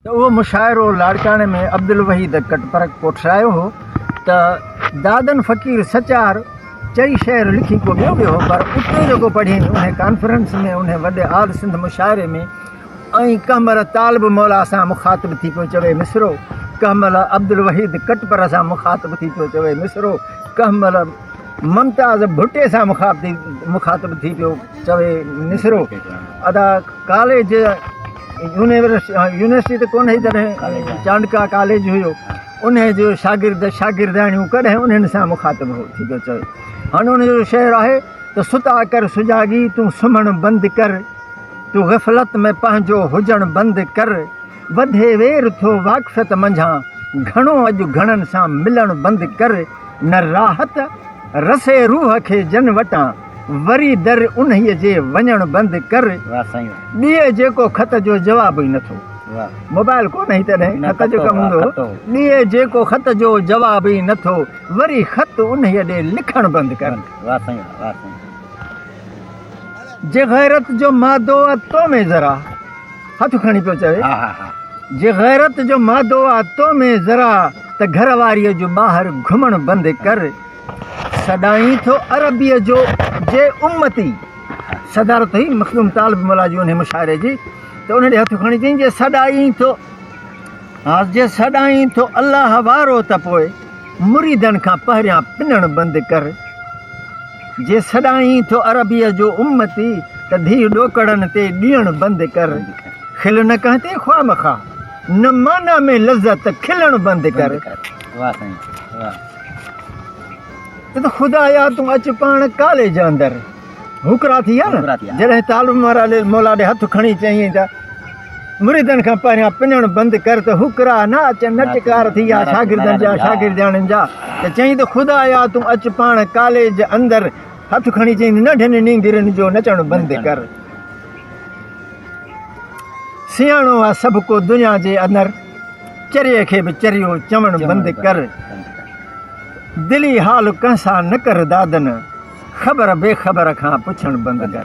ته اهو مشاعرو لاڙڪاڻي ۾ عبدالوحيد ڪٽپر ڪوٺرايو هو ته دادن فقير سچار چئي شعر لکي ڪو ٻيو ويو هو پر اتي جيڪو پڙهين انهي ڪانفرنس ۾ انهي وڏي آل سنڌ مشاعري ۾ ۽ ڪنهن مهل طالب مولا سان مخاطب ٿي پيو چوي مصرعو ڪنهن مهل عبدالوحيد ڪٽپر سان مخاطب ٿي پيو چوي مصرعو ڪنهن مهل ممتاز ڀٽي سان مخاطب ٿي پيو چوي مصرعو ادا ڪاليج يونيورسٽي ته ڪونه هئي تڏهن چانڊڪا ڪاليج هيو ان جو شاگرد شاگردياڻيون ڪڏهن انهن سان مخاطب هو ٿي ٿو چوي هن ان جو شعر آهي ته ستا ڪر سجاڳي تون سمهڻ بند ڪر تون غفلت ۾ پنهنجو هجڻ بند ڪر وڌي وير ٿو واقفيت منجهان گهڻو اڄ گهڻن سان ملڻ بند ڪر نه راحت رسي روح کي جن وٽان وري در انهيء جي وڃڻ بند ڪر ڏيء جيڪو خط جو جواب ئي نٿو موبائل ڪونه هئي تڏهن خط جو ڪم هوندو هو ڏيء جيڪو خط جو جواب ئي نٿو وري خط انهيء ڏي لکڻ بند ڪر واه سائين واه واه سائين جي غيرت جو مادو آ تو ۾ ذرا هٿ کڻي پيو چوي ها ها ها جي غيرت جو مادو آ تو ۾ ذرا ته گهر واريء جو ٻاهر گهمڻ بند ڪر سڏائين ٿو عربيء جو جي امتي. صدارت هئي مخدوم طالب مولا جي انهيء مشاعري جي ته ان ڏي هٿ کڻي چيائين جي سڏائين ٿو ها جي سڏائين ٿو الله وارو ته پوء مريدن کان پهريان پنڻ بند ڪر. جي سڏائين ٿو عربيء جو امتي ته ڌيء ڏوڪڙن تي ڏيڻ بند ڪر. کل نه ڪنهن تي خواه مخواه نه معنيٰ ۾ لذت کلڻ بند ڪر. ته خدايا تون اچ پاڻ ڪاليج اندر هڪرا ٿي ها نه جڏهن طالب مارا مولا ڏي هٿ کڻي چيئين ته مريدن کان پهريان پنڻ بند ڪر ته هڪرا نه اچن نه ٽڪار ٿي ها شاگردن جا شاگردياڻين جا ته چيئين ته خدايا تون اچ پاڻ ڪاليج اندر هٿ کڻي چيئين ننڍن نينگرن جو نچڻ بند ڪر سياڻو آ سڀ ڪو دنيا جي اندر چريي کي به چريو چوڻ بند ڪر دلي حال ڪنهن سان نه ڪر دادن خبر بي خبر کان پڇڻ بند ڪر.